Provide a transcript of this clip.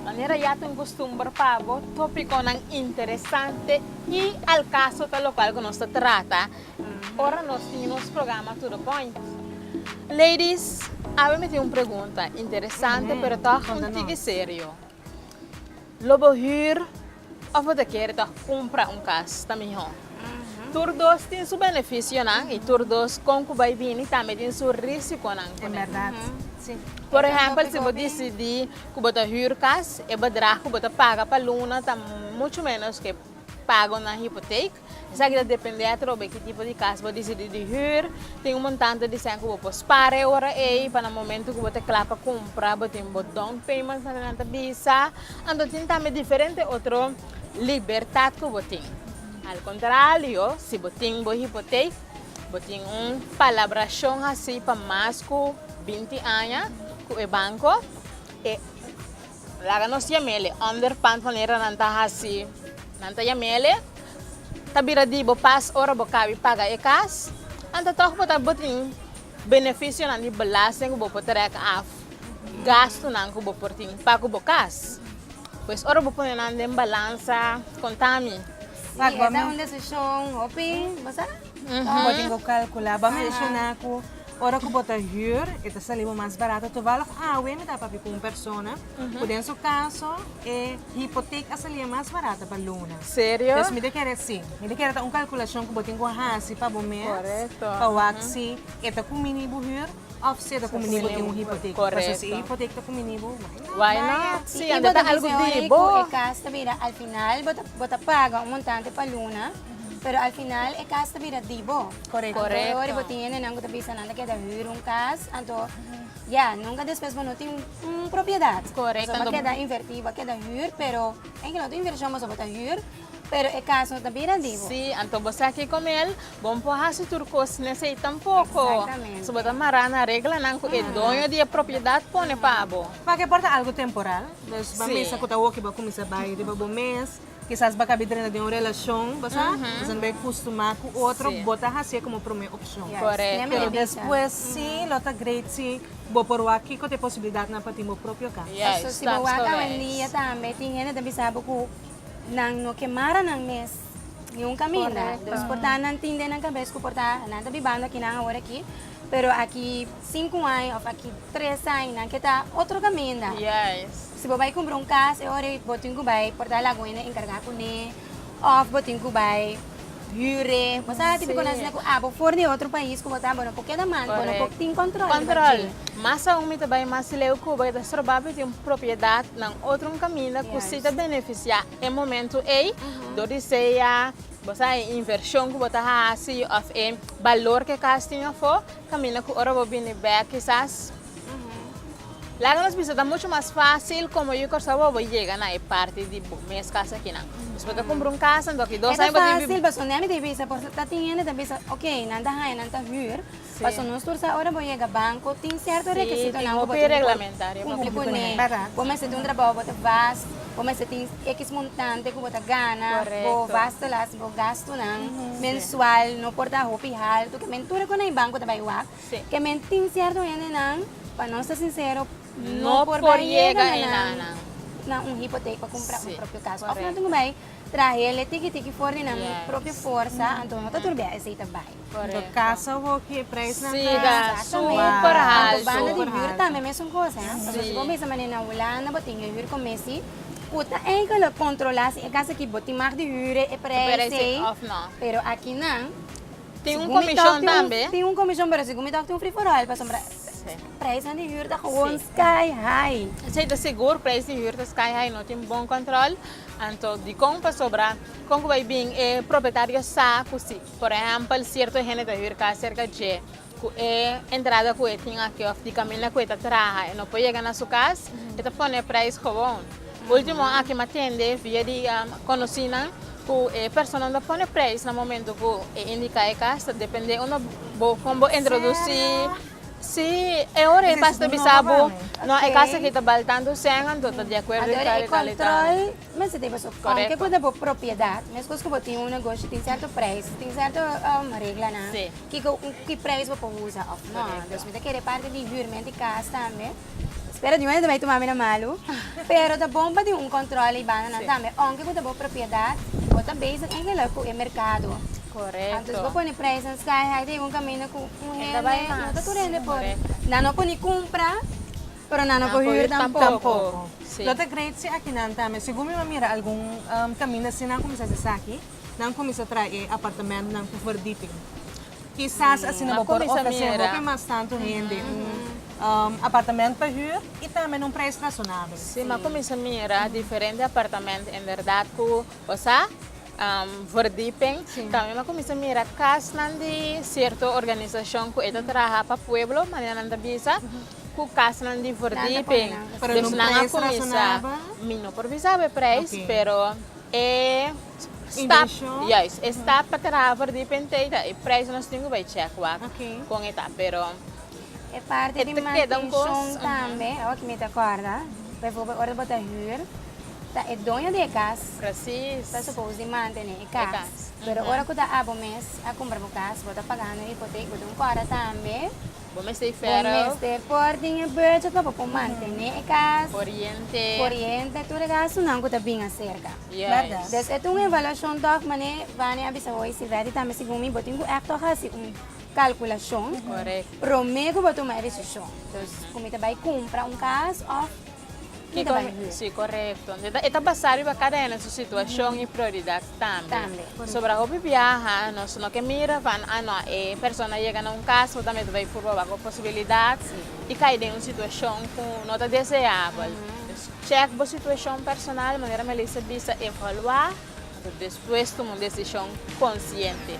Manera ya ta un costumber pa bo, topiconan interesante y al caso ta locual cu nos ta trata ora nos tin nos programa To The Point. Ladies, awe mi tin un pregunta, interesante pero toch un tiki serio. Lo bo hür of bo ta kere ta kumpra un kas ta mihó. Tur dos tin su benefisionan i tur dos kon ku bai bini tambe tin su risikonan kuné. Por ehèmpel si bo disidí ku bo ta hür kas, e bedrag ku bo ta paga pa luna ta muchu ménos ku e pagonan hipotek. Esaki ta depende atrobe ki tipo di kas bo disidi di hür. Tin un montante di sèn ku bo por spara e ora ei, pa na momentu ku bo ta kla pa kumpra bo tin bo down payment nan nan ta bisa. Anto tin tambe diferente otro libertat ku bo tin. Al kontralio, si bo tin bo hipotek, bo tin un palabrashon hasi pa mas ku binti aña ku e banko. E. Laga nos yamele underpant manera nan ta hasi nan ta yamele ta bira di bo pas ora bo kabi paga e kas anta tog bo ta bo tin benefisionan di belasting ku bo por trek af gastunan ku bo por tin pa ku bo kas pues ora bo pone nan den balansa konta mi. Si esa un desishon hopi bo sa. Bo tin cu calcula, bo a menciona cu ora cu bo ta huur e ta sali bo mas barato. Toevallig awe mi ta papia cu un persona cu den su caso e hypotheek a salia mas barato pa luna. Serio? Pues mi ta kere, si, mi ta kere ta un calculacion cu bo tin cu haci pa bo mes. Correcto. Pa wak si e ta cumini bo huur of si e ta cumini bo tin un hypotheek. Correcto. Pasobra si e hypotheek ta cumini bo, why not? Why not? Si, anto ta algo di bo. Bo ta bisa horai cu e cas ta bira al final bo ta, bo ta paga un montante pa luna. Pero al final e cas ta bira di bo. Correcto. Anto e ora bo tin hendenan cu ta bisa nan ta keda huur un cas, anto ya, nunca despues bo no tin un propiedad. Correcto. Pasobra bo a keda inverti, bo a keda huur, pero enki lo otro inversion pasobra bo ta huur, pero e cas no ta bira di bo. Sí, anto bo sa ki con el, bo no por haci tur cos nesey tampoco. Exactamente. So bo ta mara na reglanan cu e doño di e propiedad pone pa bo. Pakier por ta algo temporal, bo a bisa cu ta oki bo a cuminsa bay riba bo mes. Kisas bo a kabi drenta den un relashon, bo sa, bo bai kustumá ku otro, bo ta hasié komo promé opshon. Pero despues si lo ta great si bo por wak kiko ta e posibilidatnan pa tin bo propio kas. Pasobra si bo wak awendia tambe tin hende ta bisa bo ku nan no ke mara nan mes niun kaminda. Pues por ta nan tin den nan kabes ku por ta nan ta bibando aki nan awor aki, pero aki sinku aña òf aki tres aña nan ke ta otro kaminda. Si bo bai kumbra un kas e ora bo tin ku bai porta laguene enkargá kuné òf bo tin ku bai hür'e. Bo sa hasi bikonansi nan ku a bo for di otro pais ku bo ta bo no por keda mal, bo no por tin kòntròl riba dje. Mas aun mi ta bai mas di leu Kuba i ta stroba pa tin propiedat nan otro un kaminda ku si ta benefisiá e momentu ei dor di sea bo sa e invershon ku bo ta hasi òf e balor ku e kas tin afó kaminda ku ora bo bini bèk kisas Laga nos bisa ta mucho mas fácil como yu Córcega bo bo yega na e parti di bo mes casa akinan. Nos por ta cumpra un casa anto aki dos aña bo tin biba. E ta fácil pasobra nami ta bisa por ta tin hende ta bisa ok nan ta haña nan ta hür pasobra nos tur sa ora bo yega banco tin cierto requisitonan cu bo tin di por cumpli cuné. Bo mester tin un trabajo bo ta bas, bo mester tin x montante cu bo ta gana, bo bas ta la haci bo gastonan mensual no por ta hopi haltu ke men tur e cu na e banco ta bay wak. Sí. Ke men tin sierto hende nan, pa nos ta sinsero, no por bai yega na nan na un hipotek pa kumpra un propio kas. Sí, kòrèkto. Òf nan tin ku bai trahele tiki tiki for di nan propio forsa, anto no ta turbia esei ta bai. Kòrèkto. Anto kasa hopi e preisnan ta. Sí, ta super haltu. Anto banda di hür tambe mesun kos, ha. Pasobra si bo bisa manera na Hulanda bo tin e hür ku mesi ku ta eigentlik kontrolá si e kas aki bo tin mag di hüre e preis ei. Òf no. Pero aki nan. Tin un komishon tambe. Tin un komishon pero segun mi tak tin un friforal pasobra preisnan di hür ta gewoon sky high. Sí ta sigur preis di hür ta sky high no tin bon kòntròl anto dikon pasobra kon ku bai bin e propietario sa ku si por ehèmpel sierto hende ta hür kas serka dje ku e entrada ku e tin aki òf di kaminda ku e ta traha e no por yega na su kas e ta pone preis gewoon. Ultimo aki mi a tende via di konosinan. Ku e personanan ta pone preis na momento ku e indiká e kas ta dependé unda bo kon bo introdusí. Sí, e ora e tas ta bisa bo, No, e kas aki ta bal tantu sèn, anto ta di akuerdo di tal i tal i tal. Ador, e kòntròl mester tin pasobra kounke ku ta bo propiedat, meskos ku bo tin un negoshi, tin sèrto preis, tin sèrto reglanan, kiko, ku ki preis bo por usa òf nò. Entonces mi ta kere parti di hürment di kas tambe. Spera di hoy no ta bay tuma mi na malu, pero ta bon pa tin un control y banda nan tambe, aunke cu ta bo propiedad, bo ta bezig en geluk cu e mercado, anto si bo pone prijzen sky high ta yega un caminda cu un hende no ta tur hende por nan no por ni cumpra, pero nan no por huur tampoco. Lo ta great si aki nan tambe, segun mi a mira algun caminda si nan a cuminsa hasi esaki. nan kuminsá trae e apartamentnan ku verdiping. Kisas asina bo por ofresé hopi mas tantu hende un apartamènt pa hür i tambe na un preis rasonabel. Sí, m'a kuminsá mira diferente apartamènt inderdat ku bo sa verdiping. Tambe m'a kuminsá mira kasnan di sierto organisashon ku e ta traha pa pueblo, manera nan ta bisa, ku kasnan di verdiping. Pero na un preis rasonabel? Mi no por bisa bo e preis, pero. E stap, juist, e stap pa traha for di Pentei ta e prijs ku nos tin ku bai chèk wak kon e ta, pero. E parti di mantenshon tambe, awa ki mi ta kòrda, baiforbèl ora bo ta hür, ta e doño di e kas ta supos di mantené e kas, pero ora ku ta abo mes a kumpra bo kas, bo ta pagando hipotek, bo tin kòrda tambe. Bo mester ferro. Bo mester por tin e budget lo pa por mantene e cas. Coriente. Coriente, tur e gastunan cu ta bin acerca. Yes. Des e ta un evaluacion toch, mane Vania a bisa hoy, si Betty tambe segun mi, bo tin cu echt toch haci un calculacion. Correct. Prome cu bo tuma e decision. Dus cu mi ta bay cumpra un cas of. Ki ta bai hue? Sí, korekto. E ta basá riba kada hende su situashon i prioridat tambe. Pasobra hopi biaha nos no ke mira van a no, e persona a yega na un kas bo ta mester bai purba wak bo posibilidat i kai den un situashon ku no ta deseabel. Dus chèk bo situashon personal, manera Melissa bisa, evaluá, despues tuma un desishon konsiente.